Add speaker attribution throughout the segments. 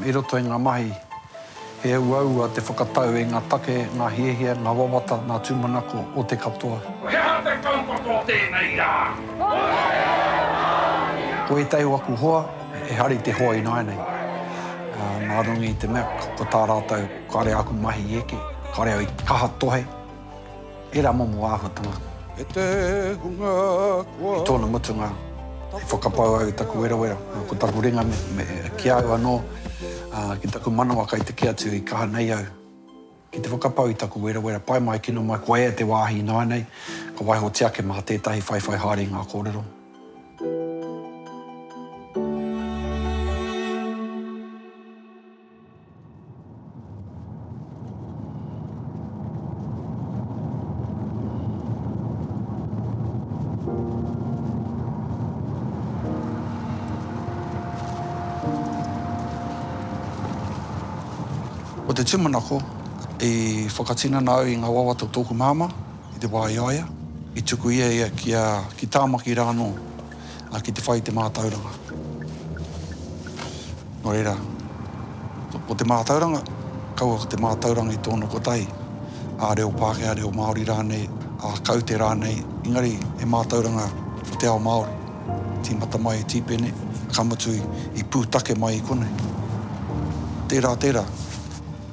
Speaker 1: I roto i ngā mahi, he uaua te whakatau i ngā take, ngā hiahia, ngā wawata, ngā tūmanako o te katoa. He aha te kaupapa
Speaker 2: o tēnei rā?
Speaker 1: Ko ētahi o aku hoa, he hari te hoa ināianei. Nā runga i te mea, ko tā rātou, kāre āku mahi i eke, kāre au i kaha tohe. He rā momo āhuatanga. E te
Speaker 3: hunga kua. I tōna mutunga,
Speaker 1: i whakapau au i taku werawera, ko taku ringa me, me, ki a au anō, ā, ki taku manawa kai te kī atu i kaha nei au. Ki te whakapau i taku werawera, pae mai, kino mai, ko ea te wāhi ināianei, ka waihotia ake mā tētahi whaiwhai haere i ngā kōrero. Ko te tūmanako, i whakatinana au i ngā wawata o tōku māmā i te wā i a ia, i tuku ia ia ki a, ki Tāmaki rānō, ā, ki te whai i te mātauranga. Nō reira, ko te mātauranga, kaua ko te mātauranga i tōna kotahi, ā, reo Pākehā, reo Māori rānei, ā, kaute rānei, engari he mātauranga o te ao Māori. Tīmata mai e Tīpene, ka mutu i pūtake mai i konei. Tērā, tērā.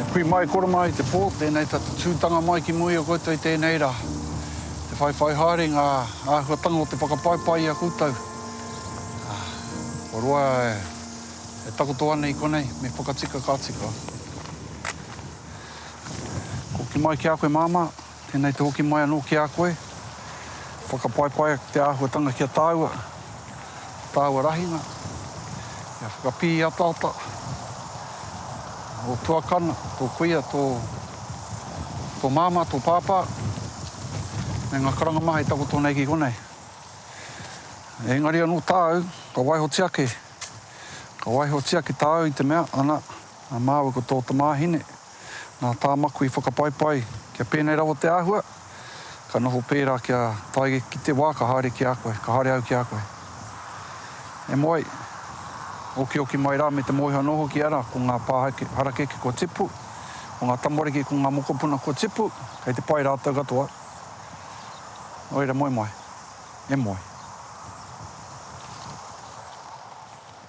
Speaker 1: E kui mai koro mai i te pō, tēnei tatutūtanga mai ki mua i a koutou i tēnei rā. Te whaiwhai haere ngā āhuatanga o te whakapaipai i a koutou. Ko roa e takoto ana i konei, me whakatika ka tika. Koki mai ki a koe māmā. Tēnei te hoki mai anō ki a koe, whakapaipaia ki te āhuatanga ki a tāua, tāua rahinga, kia whakapīataata ō tuakana, tō kuia, tō, tō māmā, tō pāpā, me ngā karanga maha i takoto nei ki konei. Engari anō tāu, ka waihotia ake, ka waihotia ki tāu i te mea, ana, a māua ko tō tamāhine, Nā tā maku i whakapaipai kia pēnei rawa te āhua, ka noho pērā kia tae ki te wā ka haere ki a koe, ka haere au ki a koe. E moe, okioki mai rā me te moeha nō hoki ara ko ngā pā harakeke kua tipu, ko ngā tamariki ko ngā mokopuna kua tipu, kei te pai rātou katoa. Nō reira moe mai. E moe.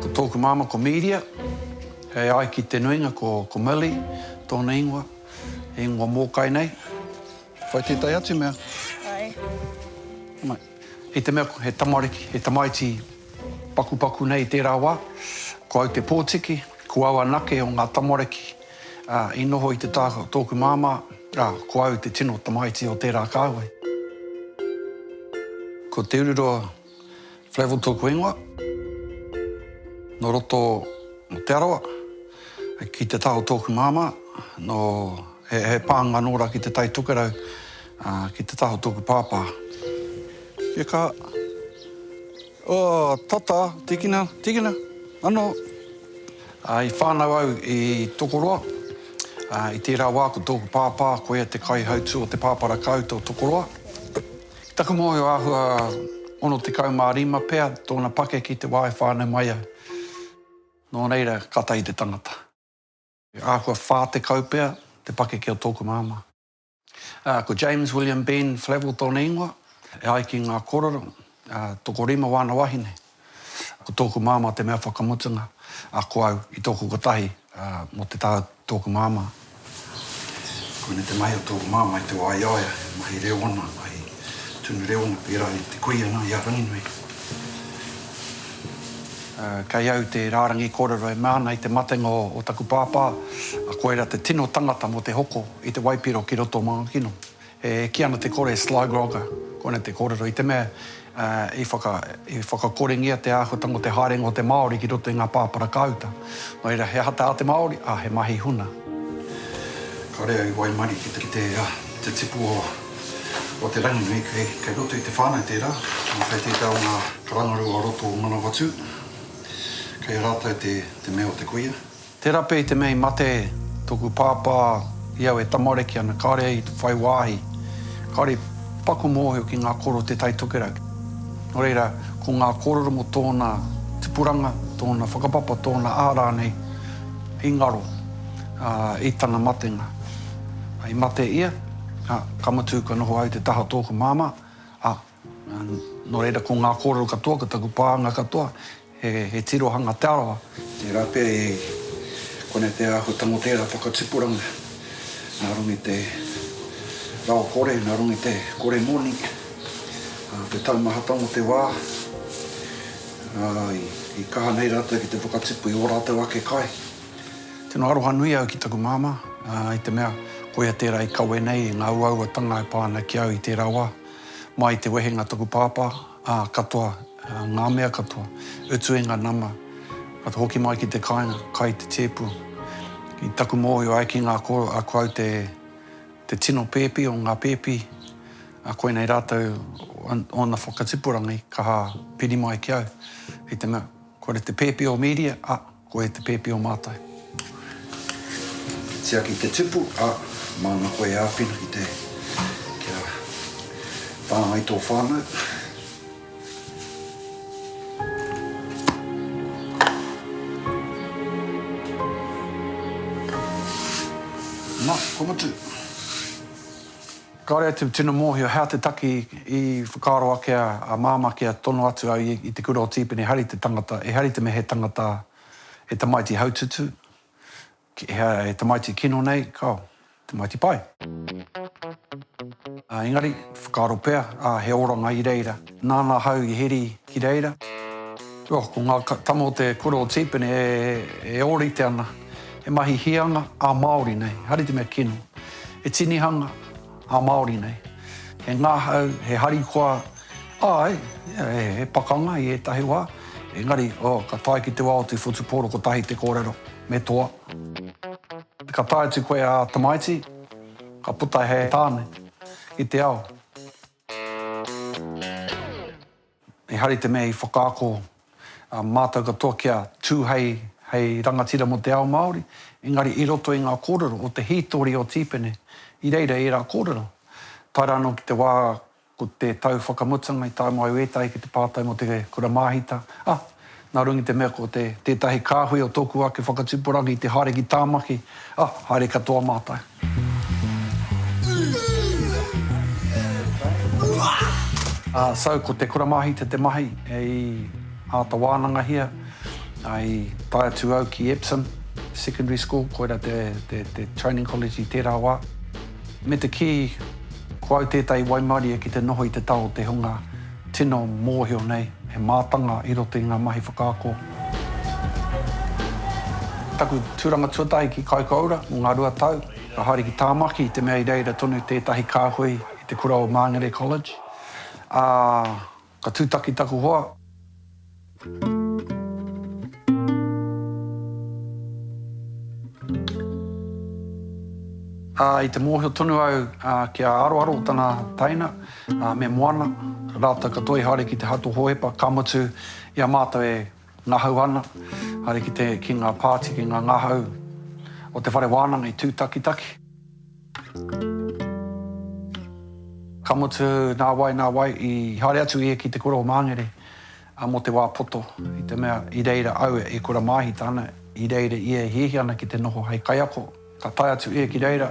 Speaker 1: Ko tōku māmā ko Mīria, he ai ki te nuinga ko Milly tōna ingoa, he ingoa mōkai nei. Whai tētahi atu mea. Whai. Mai. I te mea he tamariki, he tamaiti pakupaku nei i tērā wā, ko au te pōtiki, ko au anake o ngā tamariki i noho i te taha o tōku māmā, ā, ko au te tino tamaiti o tērā kāhui. Ko Te Ururoa. Flavell tōku ingoa. Nō roto o Te Arawa. Ki Te Taho tōku māmā. Nō, he, he pānga nō rā ki Te Tai Tokerau. Ā, ki Te Taho tōku pāpā. Kia kaha. Oh, tata, tīkina, tīkina, anō. Ā, i whānau au i Tokoroa. Ā, i tērā wā ko tōku pāpā, koia te kaihautū o te pāpara kāuta o Tokoroa. Taku mōhio āhua 65 pea tōna pake ki te wā e whānau mai ai. Nō reira, ka tahi te tangata. Āhua 40 pea te pake ki a tōku māmā. Ā, ko James William Ben Flavell tōna ingoa, e ai ki ngā kōrero, ā, tokorima wāna wāhine. Ko tōku māmā te mea whakamutunga, ā, ko au i tōku kotahi, ā, mō te taha o tōku māmā. Koinei te mahi o tōku māmā i te wā i a ia, he mahi reo ana, he mahi tunu reo ana, pērā i te kuia nā, i a Ranginui. Kei au te rārangi kōrero e mea ana i te matenga o taku pāpā, koirā te tino tangata mō te hoko i te waipiro ki roto o Mangakino. E kī ana te kore sly grogger, koinei te kōrero, i te mea i whakakorengia te āhuatanga o te haerenga o te Māori ki roto i ngā pāpara kāuta. Nō reira, he aha te ao te Māori? Ā, he mahi huna. Kāore au i waimarie ki te tipu o te rangi nei, kei roto i te whānau tērā, kei tētahi o ngā karangarua o roto o Manawatū, kei a rātou te mea o te kuia. Tera pea i te mea i mate toku pāpā i au e tamariki ana kāore au i te whai wāhi kāore i paku mōhio ki ngā koro o Te Tai Tokerau. Nō reira, ko ngā kōrero mō tōna tipuranga, tōna whakapapa, tōna aha rānei i ngaro i tana matenga. I mate ia, ka mutu ka noho au te taha o tōku māmā, ā, Nō reira, ko ngā kōrero katoa, ko taku pānga katoa, he tirohanga Te Arawa. Tērā pea e konei te āhuatanga o tērā whakatipuranga, nā runga i te rawakore, nā runga i te kore moni, te taumahatanga o te wā, i kaha nei rātou ki te whakatipu i ō rātou ake kai. Tino aroha nui au ki taku māmā, i te mea, koia tērā i kawe nei i ngā uauatanga e pā ana ki au i tērā wā. Mai te wehenga taku pāpā, ā, katoa, ngā mea katoa, utu e ngā nama, ka te hoki mai ki te kāinga, kai te tēpu. I taku mōhio ai ki ngā koro, a ko au te, te tino pēpi o ngā pēpi, a koinei rātou ōna whakatipurangi kaha piri mai ki au, i te mea, kore te pēpi o Mīria, a. Koe te pēpi o mātou. Tiaki te tipu, ā, māna koe e āwhina ki te kia whāngai tō whānau. Nā, kua mutu. Kāore atu tino mōhio hea te taki i whakaaro ake a, a Māmā kia tono atu au i, i te kura o Tīpene ehari te tangata, ehari te mea he tangata, he tamaiti haututu, ki, he, he tamaiti kino nei, kao, tamaiti pai. Engari, whakaaro pea, ā, he oranga i reira. Nāna ahau i heri ki reira. Oh, ko ngā tama o te kura o Tīpene e ōrite ana. He mahi hīanga ā-Māori nei, haere te mea kino. He tinihanga ā-Māori nei. He ngahau, he harikoa, āe, he pakanga i ētahi wā. Engari, oh, ka tae ki te wā o te whutupōro kotahi te kōrero, me toa. Ka tae atu koe ā tamaiti, ka puta he tāne i te ao. Ehara i te mea i whakaako a mātou katoa kia tū hei hei rangatira mō te ao Māori, engari i roto i ngā kōrero o te hītori o Tīpene i reira ērā kōrero. Tae rā anō ki te wā ko te tau whakamutanga i tae mai au ētahi ki te pātai mō te kura māhita, ah, Nā runga i te mea ko te tētahi kāhui o tōku ake whakatupuranga i te haere ki Tāmaki, ah, haere katoa mātou. Ah, so, ko te kura māhita te mahi i āta wānangahia, i tae atu au ki Epsom Secondary School, koira te, te, te training college i tērā wā. Me te kī, ko au tētahi waimarie ki te noho i te tao o te hunga, Tino mōhio nei he mātanga i roto i ngā mahi whakaako. Taku tūranga tuatahi ki Kaikoura mō ngā rua tau, ka haere ki Tāmaki i te mea i reira tonu tētahi kāhui i te kura o Māngere College, ā, ka tūtaki taku hoa. I te mōhio tonu au ki a Aroaro tana taina, me Moana, rātou katoa i haere ki te Hato Hōhepa, ka mutu i a mātou e ngahau ana, haere ki ngā pāti, ki ngā ngahau o te whare wānanga i tūtakitaki. Ka mutu, nā wai, nā wai, i haere atu ia ki te kura o Māngere mō te wā poto, i te mea, i reira au e kura māhita ana, i reira ia e hiahia ana ki te noho hei kaiako. Ka tae atu ia ki reira,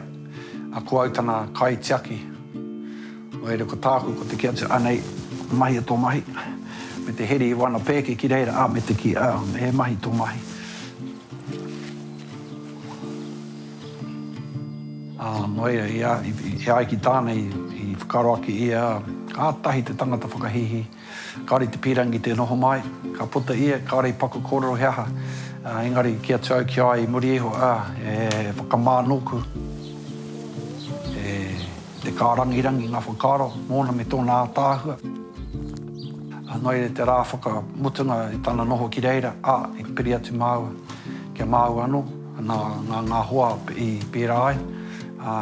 Speaker 1: ā, ko au tana kaitiaki. Nō reira, ko tāku, ko te kī atu, Anei, mahia tō mahi, me te heri i wana pēke ki reira, ā, me te kī, Ā, he mahi tō mahi. Ā, nō ia, i a, i a ia ki tāna, i, i whakaaro ake ia, kātahi te tangata whakahīhī, kāore i te pīrangi tē noho mai, ka puta ia, kāore i paku kōrero he aha, ā, engari kī atu au ki a ia i muri iho, ā, e whakamā nōku, e te kārangirangi ngā whakaaro mōna me tōna ātaahua. Ā, nō ia te rā whakamutunga i tana noho ki reira, ā, i piri atu māua, ki a māua anō. Nā ngā hoa i pērā ai, ā,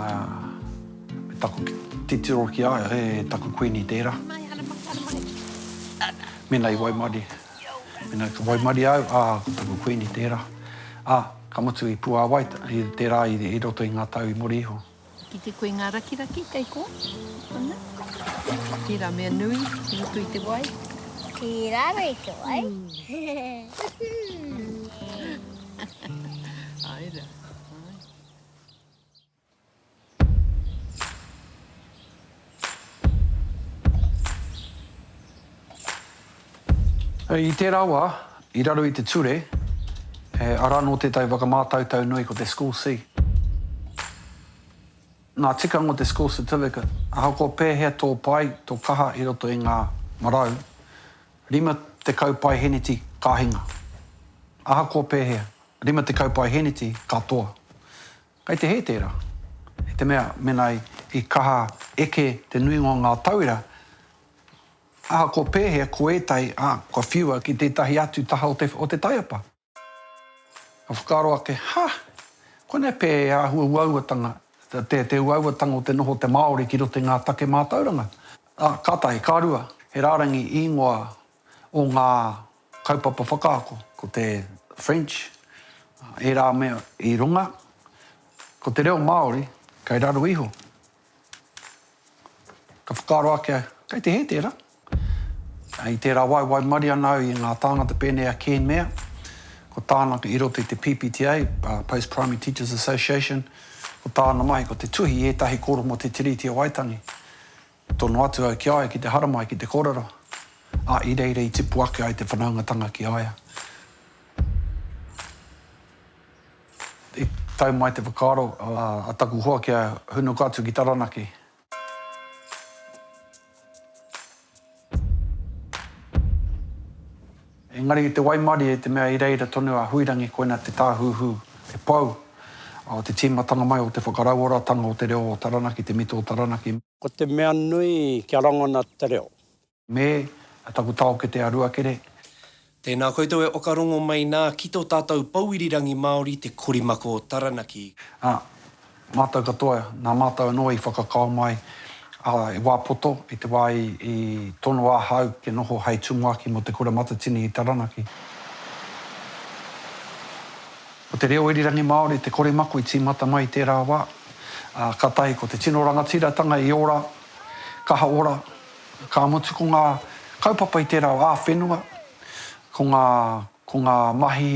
Speaker 1: me taku titiro ki a ia, he taku kuini tērā. Mēnā i waimarie, mēnā ka waimarie au, ā, ko taku kuini tērā. Ā, ka mutu i Puāwai, tērā i roto i ngā tau i muri iho. Ki te koe ngā
Speaker 4: rakiraki kei kō? Ana. Tērā mea nui i roto i te wai. Ki
Speaker 5: raro i te wai.
Speaker 4: Ai ra.
Speaker 1: I tērā wā, i raro i te ture, he ara nō tētahi whakamātautau nui ko te School C. Ngā tikanga o te School Certificate, ahakoa pēhea tō pai, tō kaha i roto i ngā marau, 50 paeheneti ka hinga. Ahakoa pēhea, 50 paeheneti ka toa. Kei te hē tērā, i te mea, mēnā i kaha eke te nuinga o ngā tauira, ahakoa pēhea, ko ētahi, ā, kua whiua ki tētahi atu taha o te, o te taiapa. Ka whakaaro ake, Ha! Koinei pea he āhua uauatanga, te, te uauatanga o te noho o te Māori ki roto i ngā take mātauranga. Ā, ka tahi, ka rua, he rārangi īngoa o ngā kaupapa whakaako. Ko te French, ērā mea i runga, ko te reo Māori kei raro iho. Ka whakaaro ake, kei te hē tērā. I tērā wā e waimarie ana au i ngā tāngata pēnei a Ken Mair, ko tāna i roto i te PPTA, Post Primary Teachers Association, ko tāna mahi ko te tuhi i ētahi kōrero mō te Tiriti o Waitangi. Tono atu au ki a ia ki te haramai, ki te kōrero, ā, i reira i tipu ake ai te whanaungatanga ki a ia. I tau mai te whakaaro a taku hoa kia hunuku atu ki Taranaki. Engari i te waimarie i te mea i reira tonu a Huirangi koina te tāhuhu, te pou, o te tīmatanga mai o te whakarauoratanga o te reo o Taranaki, te mito o Taranaki. Ko te mea
Speaker 6: nui kia rangona te reo. Me,
Speaker 1: a taku taokete a Ruakere. Tēnā
Speaker 7: koutou e okarongo mai nā ki tō tātou pou irirangi Māori te korimako o Taranaki. Ā,
Speaker 1: Mātou katoa, nā mātou anō i whakakao mai a Wā Poto i te wā i tono ahau kia noho hei tumuaki mō Te Kura Matatini i Taranaki. Ko te reo irirangi Māori te kore mako i tīmata mai i tērā wā, ā, ka tahi ko te tino rangatiratanga i ora, kaha ora, ka mutu ko ngā kaupapa i tērā wā ā-whenua, ko ngā, ko ngā mahi.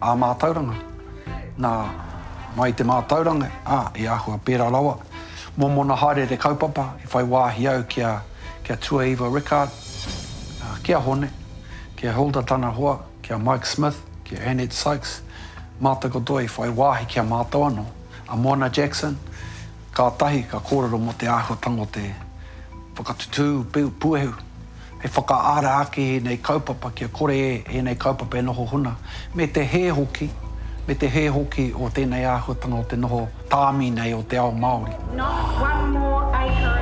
Speaker 1: Ā mātauranga, nā, mai i te mātauranga, ā, e āhua pērā rawa, mōmona haere i te kaupapa, i whai wāhi au ki a, ki a Tuaiva Rickard, ā, ki a Hone, ki a Hilda tana hoa, ki a Mike Smith, ki a Annette Sykes, mātou katoa i whai wāhi ki a mātou anō, a Moana Jackson, kātahi ka kōrero mō te āhuatanga o te whakatutū puehu. He whakaara ake ēnei kaupapa kia kore ēnei kaupapa e noho huna, me te hē hoki, me te hē hoki o tēnei āhuatanga o te noho tāmi nei o te ao Māori. Not one
Speaker 8: more acre.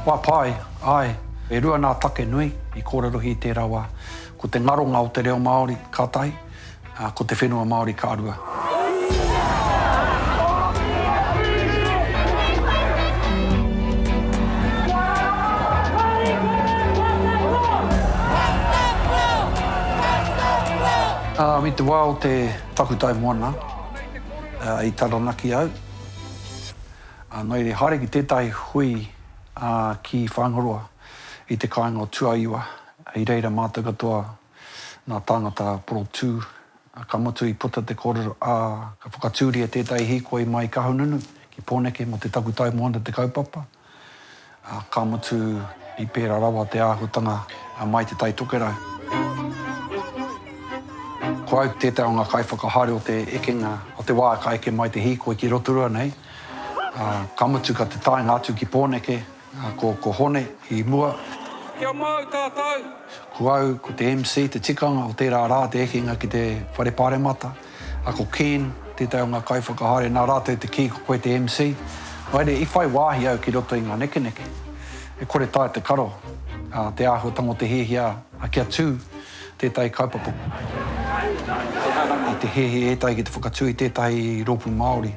Speaker 1: Kua pai, āe, e rua nā take nui i kōrerohi i tērā wā. Ko te ngaronga o te reo Māori, ka tahi, ā, ko te whenua Māori ka rua. Ā, i te wā o te takutai moana, ā, i Taranaki au, ā, nō reira haere ki tētahi hui, ā, ki Whāingaroa, i te kāinga o Tuaiwa, i reira mātou katoa Nā tāngata porotū, ka mutu i puta te kōrero, ā, ka whakatūria tētahi hīkoi mai Kahungunu ki Pōneke mō te takutai moana te kaupapa, ā, ka mutu i pērā rawa te āhuatanga mai Te Tai Tokerau. Ko au tētahi o ngā kaiwhakahaere o te ekenga, o te wā ka eke mai te hīkoi ki Rotorua nei, ā, ka mutu ka te taenga atu ki Pōneke, Ā, ko, ko Hone i mua. Kia mau
Speaker 3: tātou! Ko au, ko
Speaker 1: te MC, te tikanga o tērā rā te ekenga ki te Whare Pāremata. Ā, ko Ken, tētahi o ngā kaiwhakahaere, nā rātou te kī ko koe te MC. Haere, i whai wāhi au ki roto i ngā nekeneke. E kore taea te karo, ā, te āhuatanga o te hiahia, ā, kia tū tētahi kaupapa, i te hehe ētahi ki te whakatū i tētahi rōpū Māori,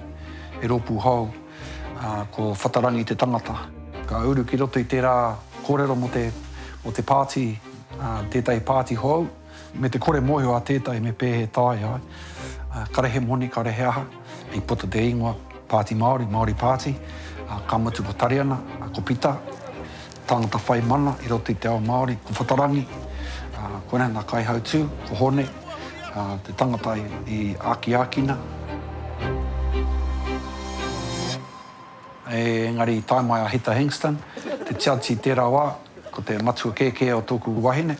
Speaker 1: he rōpū hou. Ā, ko Whatarangi te tangata. Ka uru ki roto i tērā kōrero mō te, mō te pāti, ā, tētahi pāti hou, me te kore mōhio a tētahi me pēhea e taea ai, ā, kare he moni, kare he aha, i puta te ingoa Pāti Māori, Māori Pāti, ā, ka mutu ko Tariana, ā, ko Pita. Tāngata whai mana i roto i te ao Māori, ko Whatarangi, ā, koinei ngā kaihautū, ko Hone, ā, te tangata i akiakina. Engari i tae mai a Hita Hingston, te judge i tērā wā, ko te matua kēkē o tōku wahine,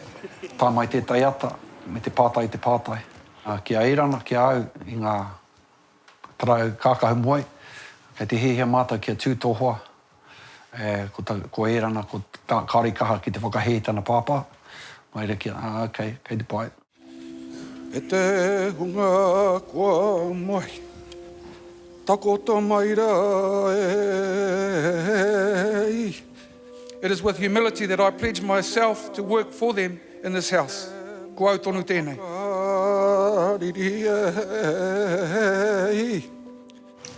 Speaker 1: tae mai tētai ata me te pātai i te pātai. Ki a Erana, ki a au, i ngā Tarae kākahu moe, kei te hiahia mātou kia tū tō hoa, ko Ērana, kāore i kaha ki te whakahē i tana pāpā, mai reira ki a, ā, kei, kei te pai. E
Speaker 3: te hunga kua mahi, takoto mai rā e. It is with humility that I pledge myself to work for them in this House. Ko au tonu tēnei.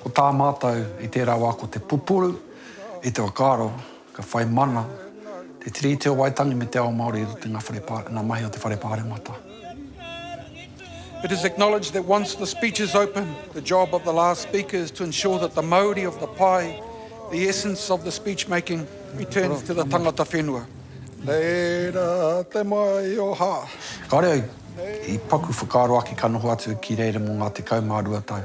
Speaker 1: Ko tā mātou i tērā wā ko te pupuru i te whakaaro ka whai mana te Tiriti o Waitangi me te ao Māori i roto i ngā mahi o te Whare Pāremata.
Speaker 3: It is acknowledged that once the speech is open, the job of the last speaker is to ensure that the mauri of the pai, the essence of the speech making, returns to the tangata whenua. Reira te mai o ha. Kāore au,
Speaker 1: i paku whakaaro ake ka noho atu ki reira mō ngā tekau mā rua tau.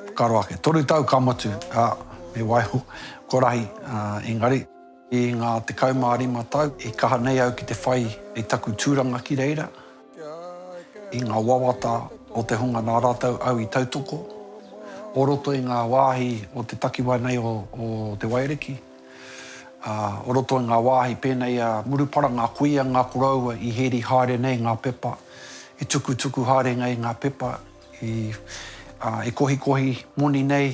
Speaker 1: Whakaaro ake, toru tau ka motu, ā, me waiho, ko rahi, ā, engari. I ngā tekau mā rima tau i kaha nei au ki te whai i taku tūranga ki reira, i ngā wawata o te hunga nā rātou au i tautoko, o roto i ngā wāhi o te takiwā nei o Te Wairiki, ā, o roto i ngā wāhi pēnei a Murupara, ngā kuia, ngā koroua i hēri haere nei ngā pepa, i tukutuku haere nei ngā pepa, i kohikohi moni nei.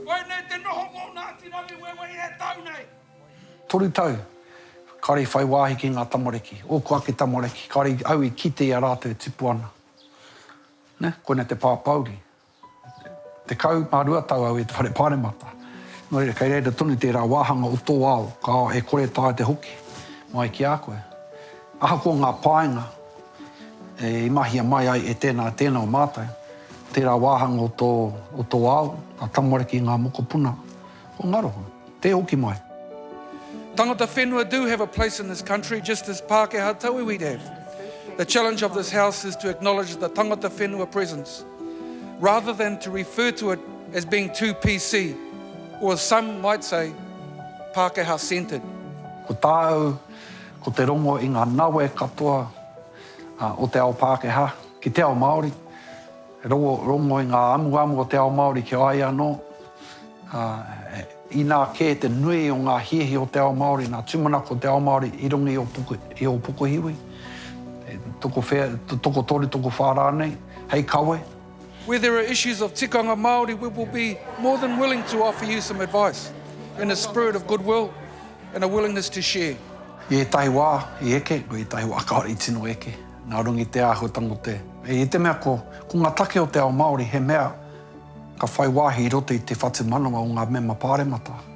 Speaker 2: Koinei te noho mō Ngāti Rangiwewehi e tau nei. Toru tau,
Speaker 1: kāore i whai wāhi ki ngā tamariki. Ōku ake tamariki, kāore au i kite i a rātou e tipu ana. Nē, koinei te pāpouri. Tekau mā rua tau au i te Whare Pāremata. Nō reira, kei reira tonu tērā wāhanga o tō ao, ka e kore taea te hoki mai ki a koe. Ahakoa ngā painga i mahia mai ai e tēnā, tēnā o mātou, tērā wāhanga o tō, o tō ao, ngā tamariki, ngā mokopuna, ko ngaro, tē hoki mai. Tangata
Speaker 3: whenua do have a place in this country just as Pākehā tauiwi have. The challenge of this House is to acknowledge the tangata whenua presence rather than to refer to it as being too PC or as some might say, Pākehā centred. Ko
Speaker 1: tāu, Ko te rongo i ngā nawe katoa o te ao Pākehā ki te ao Māori, he rongo i ngā amuamu o te ao Māori ki a ia anō. Inā kē te nui o ngā hiahia o te ao Māori, ngā tūmanako o te ao Māori i runga i ō pukuhiwi, tokowhea, tokotoru, tokowhā rānei, hei kawe.
Speaker 3: Where there are issues of tikanga Māori we will be more than willing to offer you some advice in a spirit of goodwill and a willingness to share. I ētahi wā
Speaker 1: i eke, ko ētahi wā kāore i tino eke, nā runga i te āhuatanga o te, i te mea ko, ko ngā take o te ao Māori he mea ka whai wāhi i roto i te whatumanawa o ngā mema pāremata.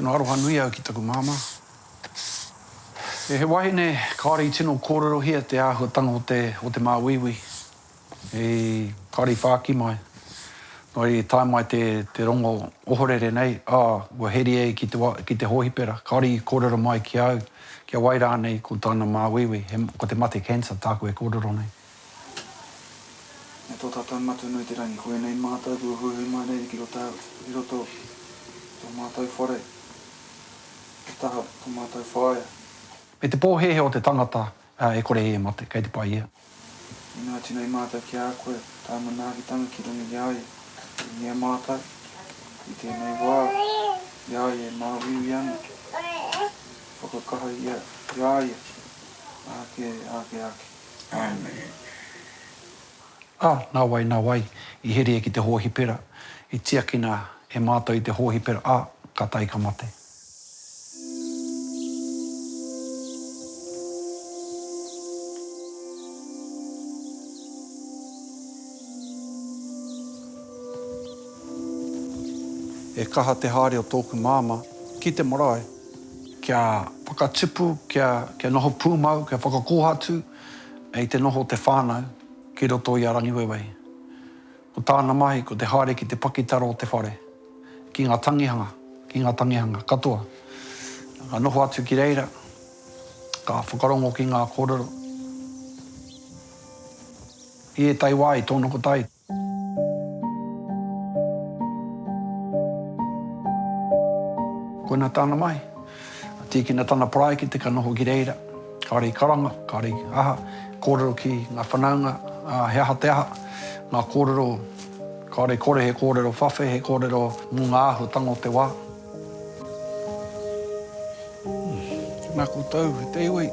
Speaker 1: Tino aroha nui au ki taku māmā. E he wahine kāore i tino kōrerohia te āhuatanga o te, o te māuiui. I, kāore i whāki mai. Nō reira i tae mai te, te rongo ohorere nei, ā, kua heri e ki te wa, ki te hōhipera. Kāore i kōrero mai ki a au, ki a wai rānei ko tāna māuiui, he, ko te mate cancer tāku e kōrero nei.
Speaker 9: E tō tātou Matua nui te rangi, koinei mātou kua huihui mai nei ki roto ki roto i tō mātou whare, he taha tō mātou whaea. Me te
Speaker 1: pōhēhē o te tangata e kore e mate, kei te pai ia. Inā atu
Speaker 9: nei mātou ki a koe, tā manaakitanga ki runga i a ia, i a mātou, i tēnei wā, i a ia e māuiui ana, whakakaha ia i a ia, āke, āke, āke.
Speaker 1: Ā, nāwai, nāwai, i heria ki te hōhipera, i tiakina e Mātou i te hōhipera, ā, ka tae ka mate. E kaha te haere o tōku Māmā ki te marae. kia whakatipu, kia, kia noho pūmau, kia whakakōhatu i te noho o te whānau ki roto i a Rangiwewehi. Ko tāna mahi ko te haere ki te pakitara o te whare, ki ngā tangihanga, ki ngā tangihanga katoa. Ka noho atu ki reira, ka whakarongo ki ngā kōrero. I ētahi wā i tōnoko tai. Koina tāna mahi. Ka tīkina tana parae ki te ka noho ki reira. Kāre i karanga, kāre i aha, kōrero ki ngā whanaunga, ā, he aha te aha, ngā kōrero, kāre kore he kōrero whawhe, he kōrero mō ngā āhuatanga o te wā.
Speaker 9: Tēnā koutou e te iwi.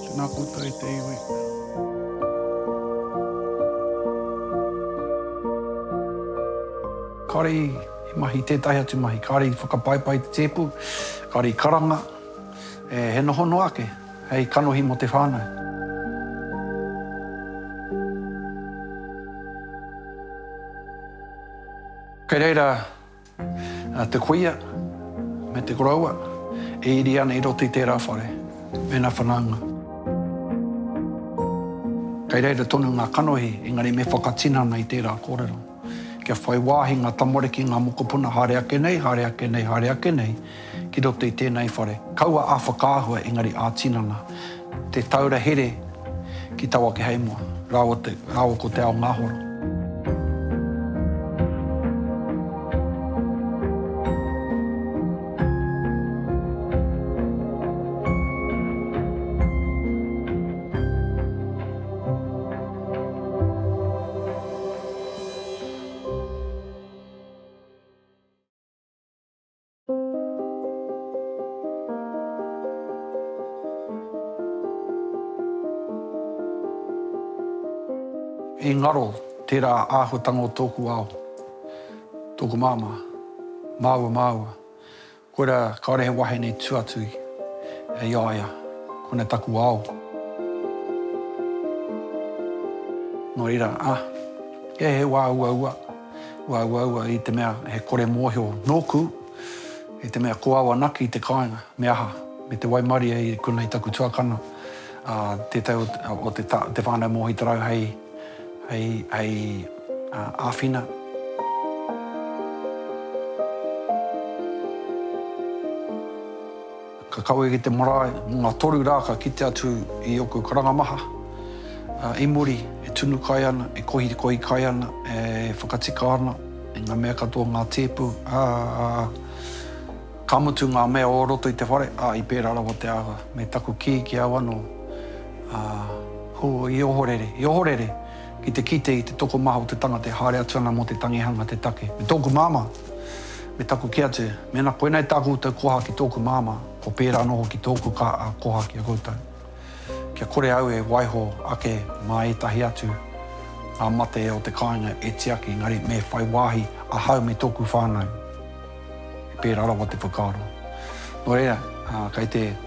Speaker 9: Tēnā koutou e te iwi.
Speaker 1: Kāore i mahi tētahi atu mahi, kāore i whakapaipai te tēpu, kāore i karanga, he noho noa ake hei kanohi mō te whānau. Kei reira te kuia me te koroua e iri ana i roto i tērā whare mēnā whanaunga. Kei reira tonu ngā kanohi, engari me whakatinana i tērā kōrero. Kia whai wāhi ngā tamariki, ngā mokopuna, haere ake nei, haere ake nei, haere ake nei, ki roto i tēnei whare. Kaua a whakaahua engari a tinana te taura here ki taua keheimoa raua ko te ao ngahoro. I ngaro tērā āhuatanga o tōku ao, tōku māmā, māua, māua. Koirā, kāore he wahine tū atu i a ia, kona taku ao. Nō reira, ah, he wā uaua. Uaua i te mea he kore mōhio nōku i te mea ko au anake i te kāinga, me aha, me te waimarie i konei taku tuakana, ā, tētahi o te whānau Mohi Tarau hei āwhina. Ka kawe ki te marae, mō ngā toru rā ka kite atu i ōku karanga maha, ā, i muri, e tunu kai ana, e kohikohi kai ana, e whakatika ana i ngā mea katoa, ngā tēpu, ā, ka mutu ngā mea o roto i te whare, ā, i pērā rawa te āhua. Me taku kī ki au anō, ā, hū, i ohorere, i ohorere ki te kite i te tokomaha o te tangata e haere atu ana mō te tangihanga te take. Me tōku māmā. Me taku kī atu, mēnā koinei tā koutou koha ki tōku māmā, kua pērā anō hoki tōku kaa koha ki a koutou. Kia kore au e waiho ake mā ētahi atu ngā mate o te kāinga e tiaki, engari me whai wāhi ahau me tōku whānau. He pērā rawa te whakaaro. Nō reira, kei te.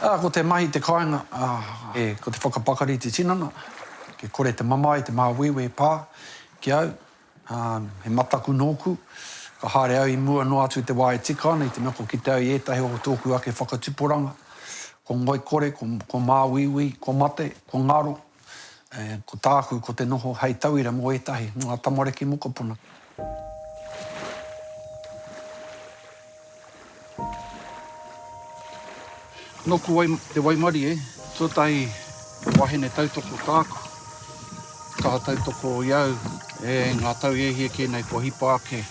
Speaker 1: Ā, ko te mahi te kāinga, ā, e, ko te whakapakari te tinana, kia kore te mamae, te māuiui e pā ki au, ā, he mataku nōku, ka haere au i mua noa atu i te wā e tika ana, i te mea kua kite au i ētahi o tōku ake whakatuporanga, ko ngoikore, ko, ko māuiui, ko mate, ko ngaro, Ko tāku, ko te noho hei tauira mō ētahi, mō ngā tamariki mokopuna. Nōku te waimarie, tuatahi wahine tautoko tāku, kaha tautoko i au, e ngā tau e hia kē nei kua hipa ake.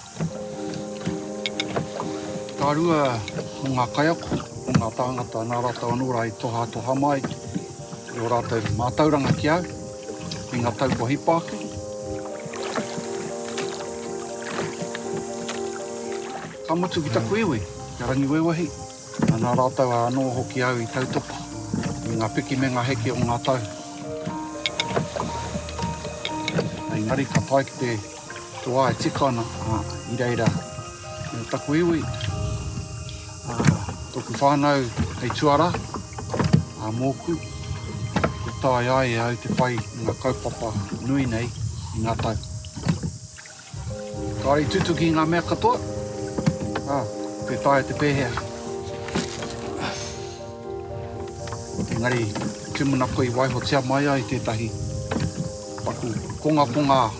Speaker 1: Ka rua mō ngā kaiako, mō ngā tāngata nā rātou anō rā i tohatoha mai i ō rātou mātauranga ki au i ngā tau kua hipa ake. Ka mutu ki taku iwi, ki a Rangiwewehi, nā rātou anō hoki au i tautoko i ngā piki me ngā heke o ngā tau. Engari ka tae ki te. Ko wai tika ana i reira me taku iwi, toku whanau hei tuara a moku e tae ai e au te whai i nga kaupapa nui nei i nga tau. Kare i tutuki i nga mea katoa, a te tae te pehea. Engari, tumuna koe i waihotia mai ai tetahi paku kongakonga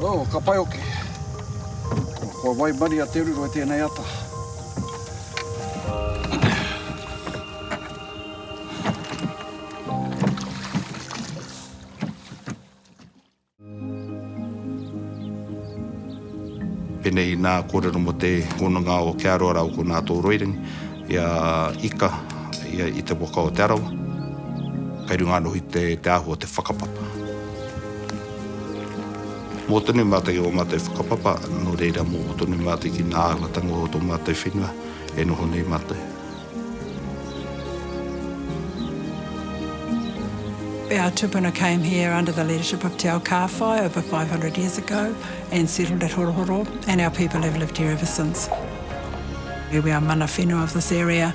Speaker 1: Oh, ka pai oke. Kua waimari a Te Ruru e tēnei ata.
Speaker 10: Penei nā kōrero mo te hononga o Ke Aroara o Ko Nātō Roirangi i a Ika i te waka o Te Arawa. Kei runga anō hoki te āhua o te whakapapa. Mō tonu mātou ō mātou whakapapa, nō reira mō tonu mātou ki ngā āhuatanga o tō mātou whenua e noho nei mātou.
Speaker 11: Our tupuna came here under the leadership of Te Ao Kāwhai over 500 years ago and settled at Horohoro and our people have lived here ever since. We are mana whenua of this area.